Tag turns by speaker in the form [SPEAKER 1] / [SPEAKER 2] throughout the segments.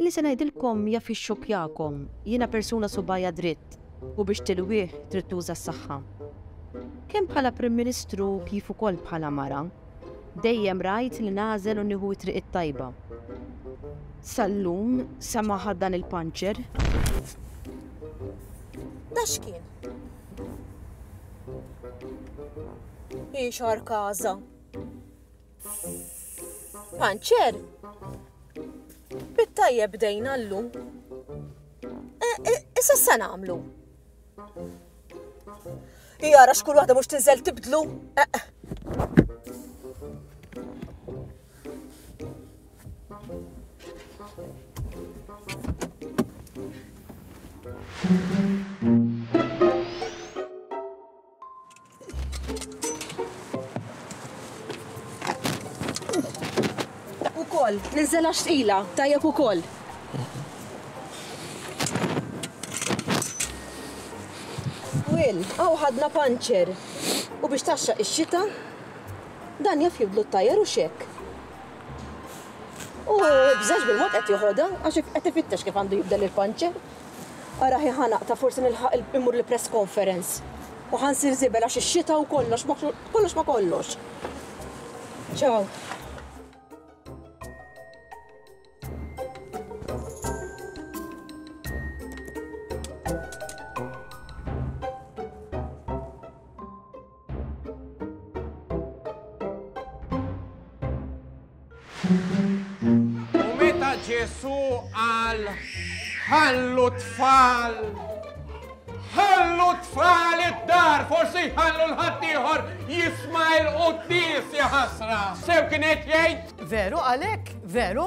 [SPEAKER 1] Li se ngħidilkom jaf ixxokkjakom, jiena persuna subgħajha dritt u biex tilwih trid tuża s-saħħa. Kemm bħala Prim Ministru kif ukoll bħala mara, dejjem rajt li nagħżel u nieħu t-triq it-tajba. Sal-lum, samaha dan il-puncher. Da x'kien? Hi xarkaża. Panċer, bit-tajjeb bdejna llum. E, e, issa se nagħmlu. Jara x'kull waħda mhux tinżel tibdlu. E, Ukoll, niżżela xtqila, tajjeb ukoll. Will, għaw ħadna panċer. U biex taxxaq ix-xita, dan jaf jibdlu t-tajjer u xek. U bżax bil-mod qed joħodha għax qed ifittex kif għandu jibdel il-panċer. Ara ħi ħa naqta' forsi nilħaq immur il-press conference u ħa nsir żibel għax ix-xita u kollox ma kollox ma kollox. Ciao. U meta Ġesu qal ħallu tfal ħallu tfal id-dar, forsi ħallu l-ħaddieħor jisma' l-quddis ja ħasra. Sew kien qed jgħid. Veru għalhekk, veru?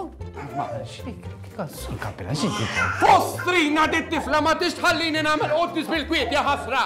[SPEAKER 1] Ma xik, kassu kapila xik. Fostrina dit tifla ma tixħallini nagħmel quddis bil-kwiet ja ħasra.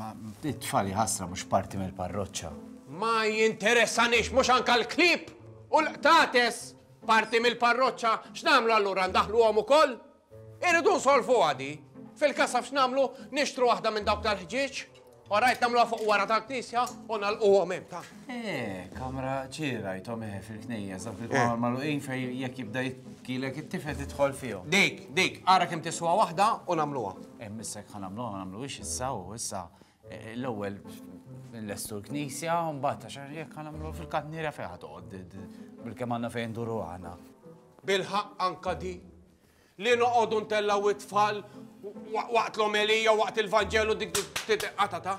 [SPEAKER 1] Ma t-tfal jħassra mhux parti mill-parroċċa. Ma jinteressanix mhux anka l-klieb u l-qtates parti mill-parroċċa, x'nagħmlu allura ndaħluhom ukoll? Irridu nsolvuha di. Fil-kasaf x'nagħmlu nixtru waħda minn dawk tal-ħġieġ? Orajt nagħmluha fuq wara tal-knisja u nagħlquhom hemm ta'. Eh, kamra ċira jtom eħe fil-knejja, zaf il-kamra eh. maluqin fej jek jibda jitkilek it-tifel titħol fihom. Dik, dik, ara kem tiswa wahda u namluwa. Eh, missek ħan namluwa, ma namluwix issa u issa. Eh, l-ewel, l-estu l-knisja, un batta xar jek ħan namluwa fil-katnira fejħat għod, bil-kem għanna fejn duru għana. Bilħaq anka di, Li noqogħdu ntellgħu t-tfal waqt l-omelija, waqt il-Vanġelu dik titqata ta?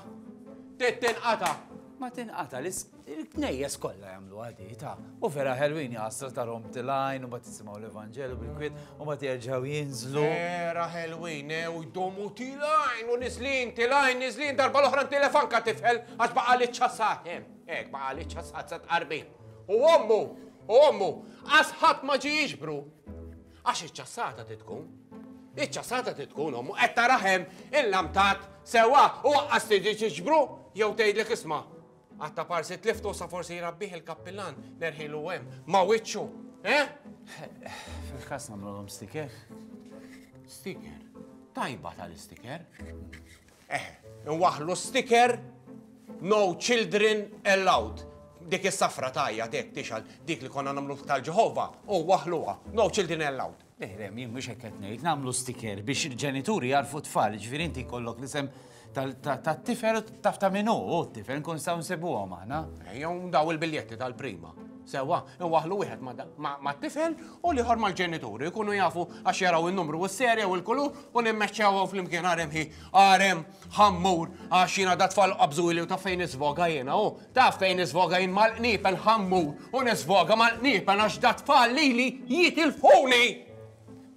[SPEAKER 1] Tittinqata. Ma tinqata li l-knejjes kollha jagħmlu għadi ta' u vera ħelwini għasra ta' rom tilajn u ma tisimgħu l-Evanġelu bil-kwiet u ma terġgħu jinżlu. Vera ħelwin eh, u jdomu tilajn u niżlin tilajn niżlin darba l-oħra telefanka tifel għax baqa' li ċasat eh, hekk baqa' li ċasat sa tqarbin. U ommu, u ommu, għasħat ma ġi jiġbru. Għax iċ-ċassata trid tkun. Iċ-ċassata trid tkun ommu qed taraħem il-lamtat sewa u waqqas tiġi ġiġbru jew tgħidlek isma' għatta parsi tliftu sa forsi jrabbih il-kappillan nerħilu hemm ma' wiċċu. Eh? Fil-każ nagħmluhom stiker. Stiker? Tajba tal-istiker. Eħe, inwaħħlu sticker No children allowed. Dik is-safra tgħajjat hekk tixgħal dik li konna nagħmlu tal-Ġeħova u waħluha. No children allowed. Leħrem, jien mhux hekk qed ngħid, nagħmlu sticker biex il-ġenituri jarfu tfal, ġifieri inti jkollok l-isem tat-tifel taf ta' min hu t-tifel nkun nistgħu nsibuhom aħna. Jew daw il-biljetti tal-prima. Sewwa, iwaħħlu wieħed mat-tifel u l-ieħor mal-ġenituri, jkunu jafu għax jaraw in-numru u s-serje u l-kulur u nimmeċċewhom flimkien għarem hi għarem ħammur għax jiena dat-tfal qabżuli u taf fejn nisfoga jiena hu, taf fejn nisfoga jien mal-qniepen ħammur u nisfoga mal-qniepen għax dat-tfal lili jitilfuni!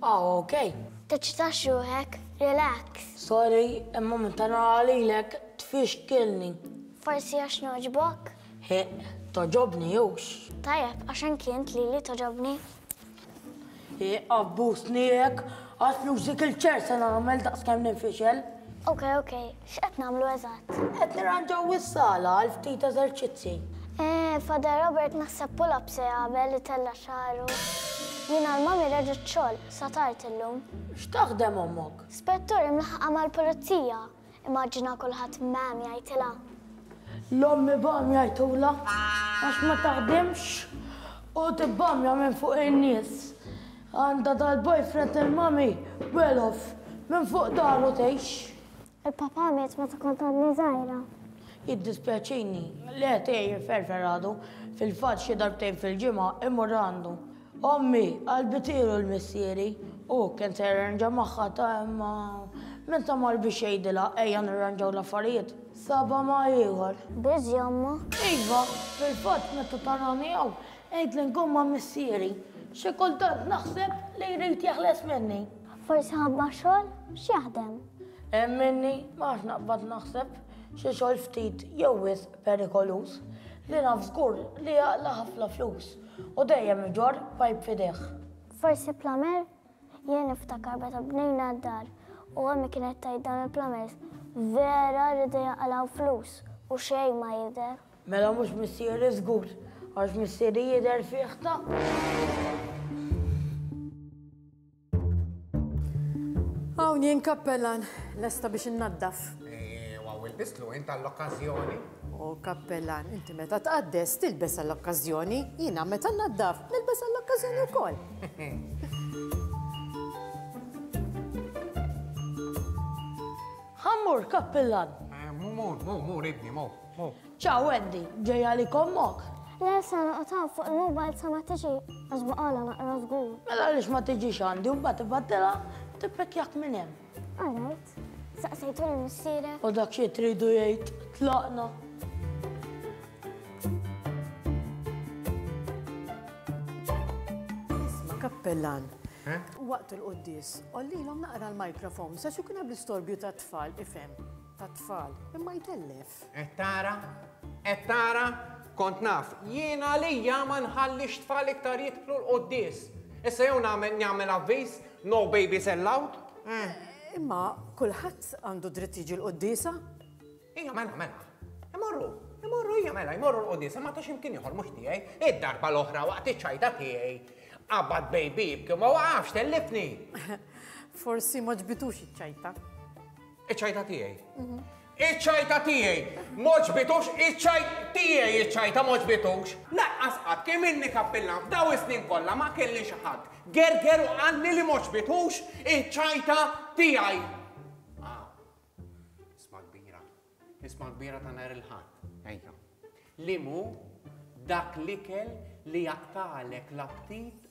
[SPEAKER 1] Ah, okej. Teċċitax ruħek, relax. Sorry, imma meta nara lilek tfixkilni. Forsi għax nogħġbok? Hi, togħġobni hux. Tajjeb, għax anki int lili togħġobni. Hi, abbużni hekk, għax nużik il-ċer se nagħmel daqskemm ninfixel. Okej, okej. X'qed nagħmlu eżatt? Qed nirranġaw is-sala għal ftit eżerċizzi. Eh, Father Robert naħseb pull-up se jagħmel itella' xagħru. Jiena l-mommy reġgħet xogħol, sa tard illum. X'taħdem ommok? Spettur imlaħħqa mal-pulizija. Immaġina kulħadd mgħam jgħidilha. L-ommi bham jgħidulha għax ma taħdimx u tibbamja minn fuq in-nies. Għandha dal-boyfriend il-mommy well off minn fuq daru tgħix. Il-papà miet meta kont għadni żgħira. Jiddispjaċini, le tgħin jifferfer għadu, fil-fatt xi darbtejn fil-ġimgħa immur għandu. Ommi, qalbi tiegħu l-missieri, u kien se jirranġa magħha ta' imma min tagħmar biex jgħidilha ejja nirranġaw l-affarijiet, sabha ma' ieħor. Biżi' omma? Iva, fil-fatt meta tarani hawn għidli nkun ma' missieri, xi kultant naħseb li jrid jeħles minni. Forsi ħabba xogħol x'jaħdem. Hemm minni ma għax naqbad naħseb xi xogħol ftit jew wisq perikoluż li naf żgur li jaqla ħafna flus u dejjem iġor pajp fidejh. Forsi plamer? Jien niftakar meta bnejna d-dar u għammi kienet tajt dan il-plamers vera li dejja għalaw flus u xejn ma jidher. Mela mhux missieri żgur għax missieri jidher fih ta' Hawn jien kappellan, lesta biex innaddaf. Ew, hawn ilbistlu int għall-okkażjoni. O kappellan, inti meta tqaddes, tilbes għall-okkażjoni, jiena meta nnaddaf, nilbes għall-okkażjoni wkoll. Ħa mmur, kappellan. Mur, mur, mur, ibni, mur. Ciao Wendy, ġej għalik ommok? Le, se noqgħod hawn fuq il-mobile sa ma tiġi għax baqgħalha naqra żgur. Mela għaliex ma tiġix għandi u mbagħad tibgħatilha u tippekkjak minn hemm? All right. Saqsejtu lil missierek? U dak xi tridu jgħid, tlaqna. Isma' kappellan, waqt il-quddies, għollilhom naqra l-microphone sax ikun hemm l-istorbju tat-tfal, ifhem. tat-tfal, imma jtellef. Qed tara? Qed tara? Kont naf, jien għalija ma nħallix tfal iktar jidħlu l-quddies. Issa jew nagħmel nagħmel avviż, no babies allowed? Eh. Imma kulħadd għandu dritt jiġi l-quddiesa? Ija mela mela. Imorru, imorru ija mela, imorru l-quddiesa ma tax imkien ieħor mhux tiegħi. Id-darba l-oħra waqt iċ-ċajta tiegħi. Qabad baby b'kemm ma waqafx tellifni. Forsi ma ġbitux iċ-ċajta. Iċ-ċajta tiegħi. Iċ-ċajta tiegħi. Moġbitux, iċ-ċajt tiegħi iċ-ċajta moġbitux. Laqqas qatt kemm inni kappillan f'daw is-snin kollha ma kelli xi ħadd. Gerger u qalli li moġbitux iċ-ċajta tiegħi. Ah, isma' kbira. Isma' kbira ta' nhar il-Ħadd. Ejja. Li mu dak l-ikel li jaqtalek l-aptit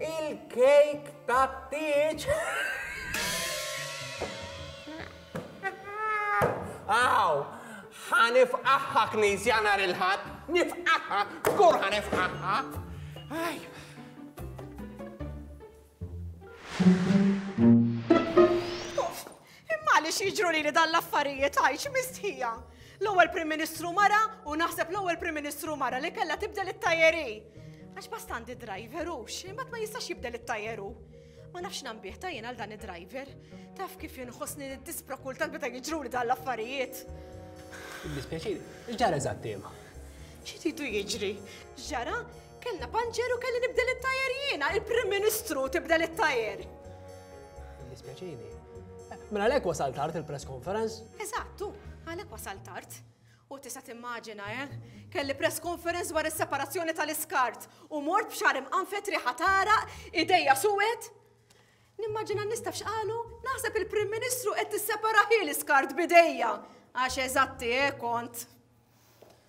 [SPEAKER 1] Il-kejk tat-tieġ! Aw, ħa nifqaħħa knisja nhar il-Ħadd, nifqaħħa, żgur ħa nifqaħħa. Imma għaliex jiġru lili dan l-affarijiet għajx mistħija? L-ewwel Prim Ministru mara u naħseb l-ewwel Prim Ministru mara li kellha tibdel it-tajeri. Għax bastandi driver hux, imbagħad ma jistax jibdel it-tajeru. Ma nafx nambih ta' jien għal dan id-driver. Taf kif jinħossni nid-dispra kultant meta jiġru li dan l-affarijiet. Dispjaċir, x'ġara eżatt tema? Xi tidu jiġri? Ġara Kellna panċer u kelli nibdel it-tajer jiena, il-Prim Ministru tibdel it-tajer. Dispjaċini. Mela lek wasal tard il-press conference? Eżattu, għalek wasal tard. U tista' timmaġina, eh? Kelli press conference dwar is-separazzjoni tal-iskart u mort b'xar imqanfet riħa tara, idejja suwed. Nimmaġina nistaf x'qalu, naħseb il-Prim Ministru qed tissepara ħil iskart bidejja. Għax eżatti, eh, kont.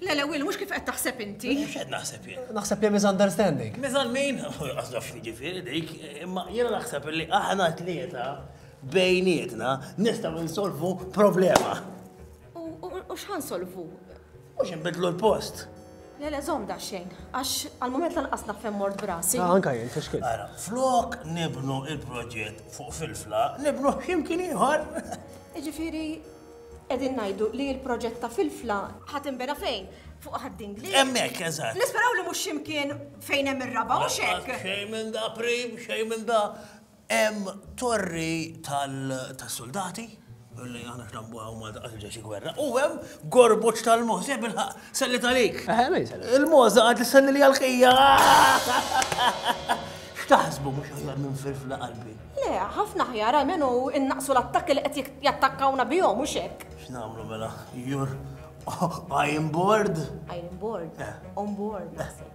[SPEAKER 1] Lele, Will, mux kif qed taħseb inti. Xed naħseb jien. Naħseb li misunderstanding. Mizan min? Għazaf ġifiri dik, imma jena naħseb li aħna tlieta bejnietna nistaw nsolvu problema. U x'ħa nsolvu? Mhux inbidlu l-post. Le le żomm daxxejn, għax għall-mument lanqas naf fejn mort brasi. Ah, anka jien, fiex kien. Ara, flok nibnu il-proġett fuq filfla, nibnu x'imkien ieħor. Jiġifieri qegħdin ngħidu li l-proġett ta' filfla ħadd inbena fejn? Fuq ħadding li. Hemmhekk, eżatt. Nisperaw li mhux x'imkien fejn hemm ir-raba' u x'hekk. Xejn minn da prim, xejn minn da. Hemm torri tas-suldati, li aħna x'nambuha u Malta qatt ġejx gwerra, u hemm gorbuċ tal-moħża, bilħaq, sellit għalik. Il-moħża qed isselli li għal-ħija. X'taħsbu mhux aħjar minn firfla qalbi? Le, ħafna ħjar għalmenu innaqsu l-attakki li qed jattakkawna bihom u xek. X'nagħmlu mela? Jur, I am bored. I am bored. On board, naħseb.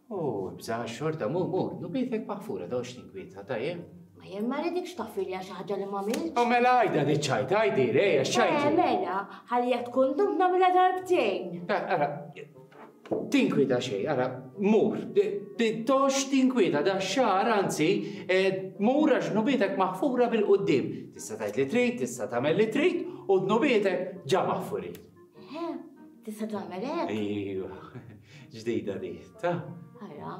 [SPEAKER 1] O, ibża' xorta, mur, mur, nubietek maħfura, dawx tinkwieta, tajjeb? Ma jien ma rridikx taffilja xi ħaġa li m'għamiltx. O mela għidha di ċajt, għidi, rej, għax ċajt. Eh, mela, ħalli jekk tkun dumt nagħmilha darbtejn. Eh, ara, tinkwieta xejn, ara, mur, dawx tinkwieta, da xar, anzi, eh, mur għax nubietek maħfura bil-qudiem. Tista' tgħid li trid, tista' tagħmel li trid, u dnubietek ġa maħfurin. Eħe, tista' tagħmel hekk? Ejwa, ġdida di, ta? Ara,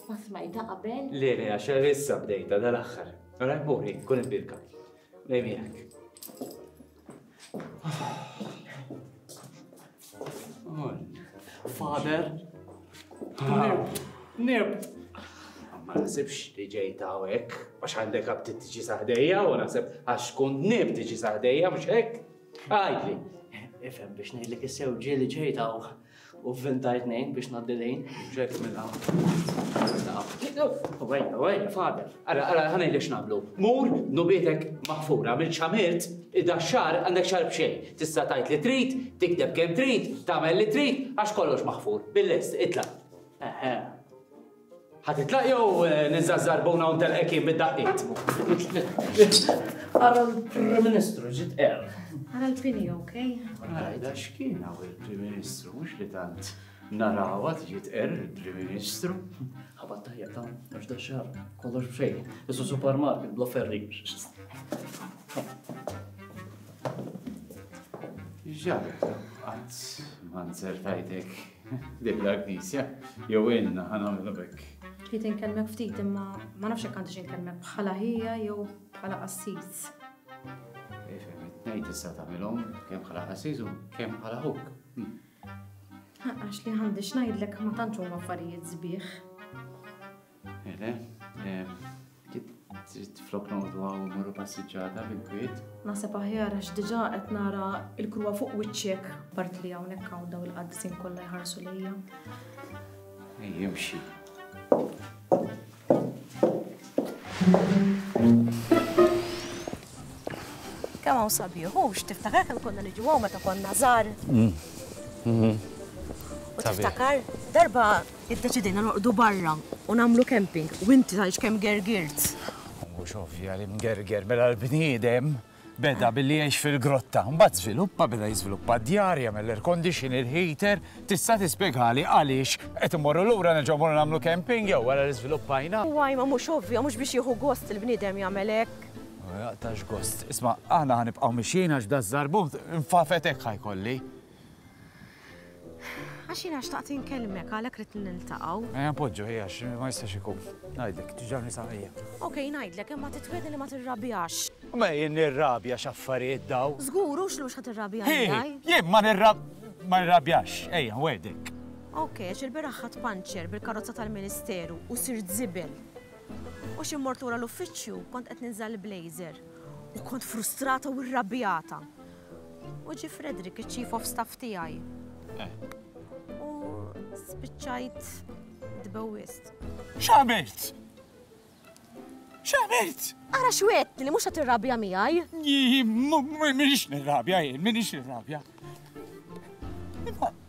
[SPEAKER 1] ma smajta qabel? Le, le, għax issa bdejta dal-aħħar. Ara, mori, kun il-birka. Lej miegħek. Father, Nirbt. Ma nasibx li ġej ta' hekk, għax għandek għab tiġi saħdejja u nasib għax kun nib tiġi saħdejja, mux hekk. Għidli, ifhem biex ngħidlek is-sew ġieli ġejta u f'vintar tnejn biex ngħaddi lejn. Ġejt minn Wejja, wejja, fader. Ara, ara, ħana jlex nagħmlu. Mur, nubietek maħfura minn xamirt, id-da xar għandek xar b'xejn. Tista' tajt li trid, tikdeb kemm trid, tagħmel li trid, għax kollox maħfur. Bil-lest, itla'. Ħa titlaq jew niżżażżar buna u ntelqek jien bid-daqqiet? Ara l-Prim Ministru ġiet qerb. Ara l-pini, ok? Għajda x'kien hawn il-Prim Ministru mhux li tant narawha tiġi tqerr il-Prim Ministru. Ħabat tajja ta' mhux da xar, kollox b'xejn. Isu supermarket bla ferri. Ġabet, qatt ma nzertajtek. Dik l-Knisja, jew ilna ħa nagħmlu b'hekk. Trid inkellmek ftit imma ma nafx jekk għandix inkellmek bħala ħija jew bħala qassis. Ifhem, it-tnejn tista' tagħmilhom kemm bħala qassis u kemm bħala ħuk. Għax li għandix ngħidlek ma tantx huma affarijiet sbieħ. Ele, trid flok noqgħodu hawn morru passiġġata bil-kwiet. Naħseb aħjar għax diġà qed nara l-krua fuq wiċċek part li hawnhekk hawn daw il-qaddisin kollha jħarsu lejja. Ej, imxi. Kemm hawn sabiħ, hux tiftakar kemm konna niġu hawn meta konna żgħar? Mm. Mm-hmm. U tiftakar darba iddeċidejna noqdu barra u nagħmlu camping u inti tgħix kemm gergirt. Mhux ovvja li mgerger mela l-bniedem beda billi jgħix fil-grotta, mbagħad żviluppa beda jiżviluppa d-djar, jagħmel l-air condition, il-heater, tista' tispjegali għaliex qed imorru lura nerġgħu morru nagħmlu camping jew wara li żviluppajna. Waj ma mhux ovvja, mhux biex jieħu gost il-bniedem jagħmel hekk. Jaqta' x'gost. Isma', aħna ħa nibqgħu mixjin għax daż-żarbun infafet hekk ħa jkolli. Għax jiena xtaqt inkellmek għalhekk rid niltaqgħu. Ejja npoġġu ejja ma jistax ikun. Ngħidlek, tiġa nisaqija. Ok, ngħidlek, imma titwiedi li ma tirrabjax. Ma jien nirrabja x'affarijiet daw. Żgur hux lux ħadd irrabja miegħi. Jien ma nirrab ma nirrabjax, ejja, wedek. Ok, għax il-beraħ ħadd panċer bil-karozza tal-Ministeru u sirt żibel. U xi mort lura l-uffiċċju, kont qed ninża' l-blazer u kont frustrata u rrabjata. U ġie Frederick, iċ-chief of staff tiegħi. Eh. U spiċċajt tbewwist. X'għamilt? X'għamilt? Ara x'wedtni li mhux qed tirrabja miegħi. Minix nirrabja jien, minix nirrabja.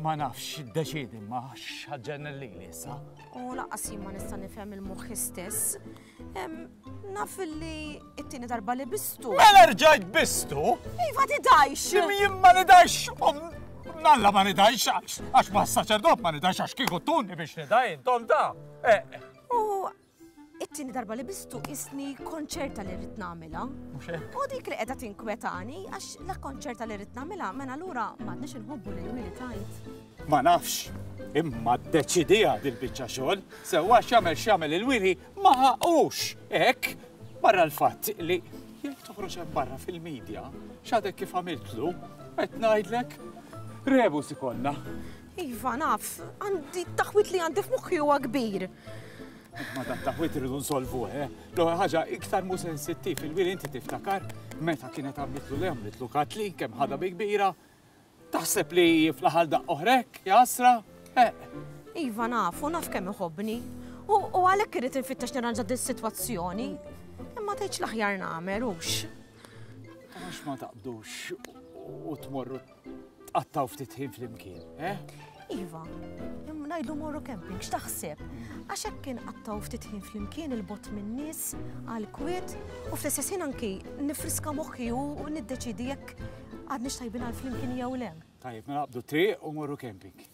[SPEAKER 1] Ma nafx x'iddeċiedi imma x'ħaġġenni lili issa. U laqas jien ma nista' nifhem il-moħħ istess. Naf li it-tieni darba li bistu. Mela rġajt bistu? Iva tidajx. Jien ma nidajx. Nalla ma nidajx għax ma s-saċerdot ma nidajx għax kieku tuni biex nidaj intom da. Eh, eh. U It-tieni darba li bistu isni konċerta li rrid nagħmilha. U dik li qiegħda tinkwetani għax la konċerta li rrid nagħmilha mela lura m'għadniex inħobbu lil Willy tajt. Ma nafx, imma ddeċidija dil-biċċa xogħol, sewwa x'jagħmel x'jagħmel il-Willy ma ħaqux hekk barra l-fatt li jekk toħroġ hemm barra fil-medja x'għadek kif għamiltlu qed ngħidlek rebus ikollna. Iva, naf, għandi taħwit li għandi f'moħħi huwa kbir. Ma ta' taħwit irridu nsolvu, eh? L-ewwel ħaġa iktar mu sensittiv il-wili inti tiftakar meta kienet għamlitlu li għamlitlu katli kemm ħadha bi kbira. Taħseb li fl-aħħar daqq oħrek, jasra? Eh. Iva naf, u naf kemm iħobbni. U għalhekk irid infittex nirranġa din sitwazzjoni. Imma tgħidx l-aħjar nagħmel hux. Għax ma taqbdux u tmorru tqattgħu ftit ħin flimkien, eh? Iva, ngħidu morru camping, x'taħseb? Għax hekk kien qattaw ftit ħin flimkien il-bot minn nies għal kwiet u fl-istess ħin anki nifriska moħħi u niddeċidi jekk għadni xtajbin għal flimkien jew le. Tajjeb, mela qabdu triq u morru camping.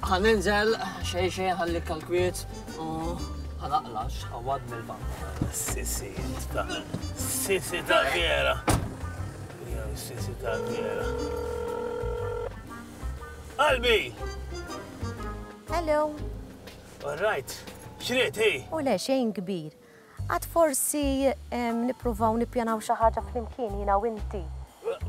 [SPEAKER 1] Ħa ninżel xejn xejn ħallik għall-kwiet u ħa naqlax għawad mill-bank. Sisi ta' sisi ta' vera. Sisi ta' vera. Qalbi! Hello. All right. Xriet, hi? U le xejn kbir. Għad forsi nippruvaw nippjanaw xi ħaġa flimkien jiena u inti?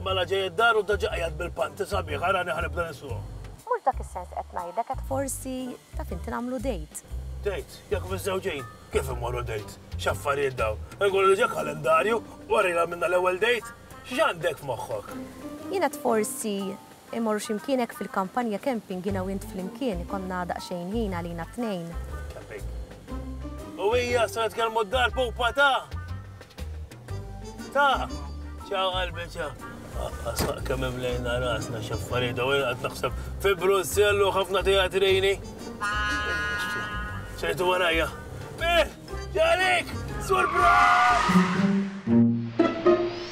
[SPEAKER 1] Mela ġej id-dar u daġġa qiegħed bil-panty sabiħ, arani ħa nibda niswuh. Mhux f'dak is-sens qed ngħidlek, għad forsi, taf inti, nagħmlu date. Date? Jekk miżżewġin? Kif immorru date? X'affarijiet dawn? Inkunu diġa' kalendarju, u għarrielha minna l-ewwel date? X'għandek f'moħħok? Jien għad forsi Immorru x'imkien hekk fil-kampanja camping jiena u int flimkien, ikollna daqsxejn ħin għalina t-tnejn. Camping. U hija se nitkellmu d-dar pupa ta'! Ta'! Ciao qalbi ciao. Asaq kemm imlejna rasna x'affarijiet u jien qed naħseb fi Brussell u ħafna teatrini. Xejtu warajja. Bih! Ġalik! Surprise!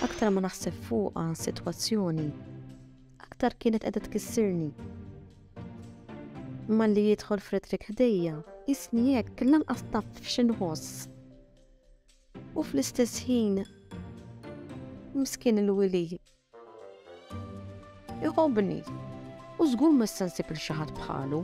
[SPEAKER 1] Aktar ma naħseb fuqha, sitwazzjoni, aktar kienet qiegħda tkissirni. Malli jidħol Frederick ħdejja, isni hekk lanqas taf xi nħoss. U fl-istess ħin miskin il-wili. Iħobni, u żgur ma nsensib il xi ħadd bħalu.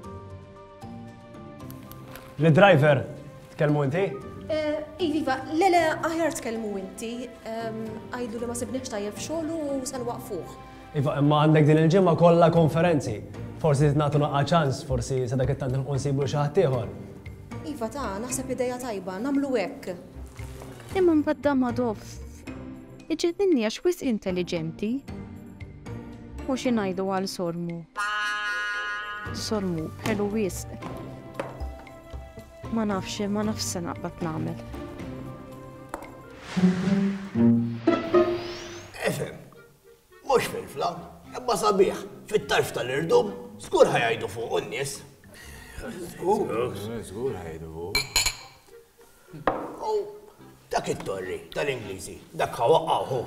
[SPEAKER 1] L-driver Tkellmu inti? Iva, iva, le le aħjar tkellmu inti. Għidlu li ma sibniex tajjeb f'xogħlu u se nwaqfuh. Iva, imma għandek din il-ġimgħa kollha konferenzi. Forsi nagħtu naqqa' ċans, forsi sa dak it-tant nilqu nsibu xi ħadd ieħor. Iva ta, naħseb idea tajba, nagħmlu hekk. Imma mbagħad dan ma dofs. Iġenninni għax wisq intelliġenti. U xi ngħidu għal Sormu? Sormu, ħelu wisq. Ma nafx, ma nafx se naqbad nagħmel. Efem, mhux fil-fla, imma sabiħ, fit-tarf tal-irdum, żgur ħajajdu fuq n-nies. Żgur, żgur ħajdu fuq. Dak it-torri tal-Ingliżi, dak ħawaqqaħu.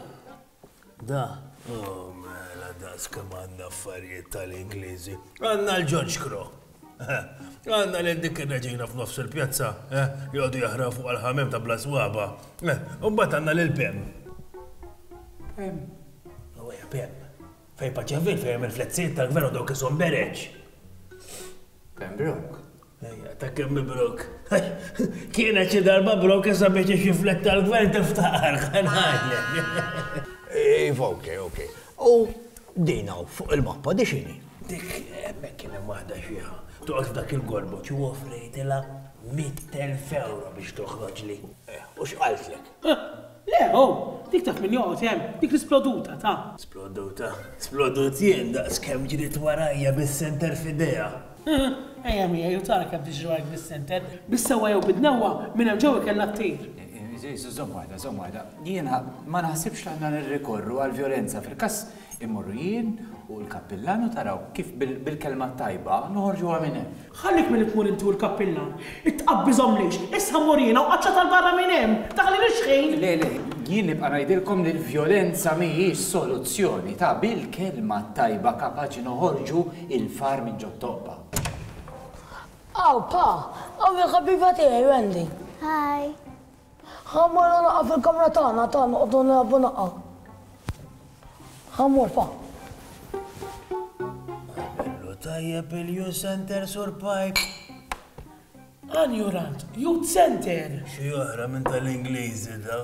[SPEAKER 1] Da, oh mela das kemm għandna affarijiet tal-Ingliżi. Għandna l-George Crow. Għanna li dik il-reġina f'nofs il-pjazza, eh, li għodu jahra fuq għal-ħamem ta' bla swaba. Eh, Umbat għanna li l-pem. Pem. Għawaj, oh, pem. Fej paċevil fej il-flezziet tal-gvern u dawk isom bereċ. Pem brok. Ejja, ta' kemm mibruk. Kienet xi darba brok issa biex ixiflek tal-gvern tiftaqar, ħa ngħidlek. Iva, okej, okej. U din hawn fuq il-mappa di x'inhi? Dik hemmhekk kien hemm waħda xieħa toqgħod f'dak il-gorbuċ u offrejtilha mitt elf ewro biex toħroġli. U x'qaltlek? Huh! Le, ho! Dik taf min joqgħod hemm, dik l-isploduta, ta. Sploduta? Splodut jien daqs kemm ġriet warajja bis-senter f'idejha! Huh! Ejja miegħi u tara kemm tiġri warajk bis-senter, bis-sewwa jew bid-dnewwa, minn hemm ġewwa kellha ttir! Żomm waħda, żomm waħda. Jiena ma naħsibx li għandna nirrikorru għall-vjolenza fil-każ Immorru jien u l-kappillan u taraw kif bil-kelma t-tajba noħorġuha minn hemm. Ħallik milli tmur inti u l-kappillan. Tqabbiżhom lejx? Issa mur jiena u qaċċat għal barra minn hemm! Daħli rixħin! Le, le, jien nibqa' ngħidilkom li l-vjolenza mhijiex soluzzjoni. Ta' bil-kelma t-tajba kapaċi noħorġu l-far minn ġo t-toqba. Hawn, pa! Hawn il-ħabiba tiegħi, Wendy. Hi. Ħa mmur u naqa' fil-kamra tagħna, ta' noqogħdu nilgħabu naqa'. Ħa mmur fa. Għamillu tajjeb il-Youth Centre Sur Pike. Anjurant, Youth Centre! Xi oħra minn tal-Ingliżi da.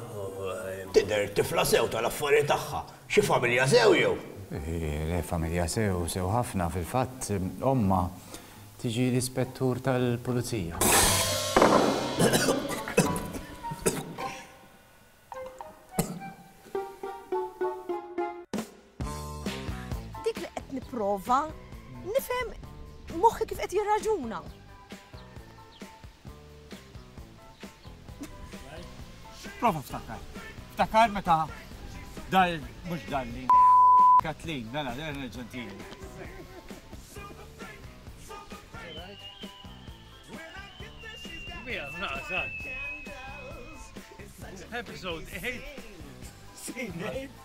[SPEAKER 1] Tidher tifla sew tal-affarijiet tagħha. Xi familja sew jew? Le familja sew, sew ħafna, fil-fatt, ommha. Tiġi l-Ispettur tal-Pulizija. Dik li qed nipprova nifhem moħħi kif qed jirraġuna. Prova ftakar. Ftakar meta dal mhux dan li Kathleen, mela, dan il-ġentili. Mija, naqsad. Episode 8. Seen 8.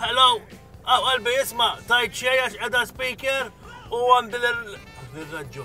[SPEAKER 1] Hello, għaw qalbi isma, tajt xej għax edha speaker u għandi l-raġġu.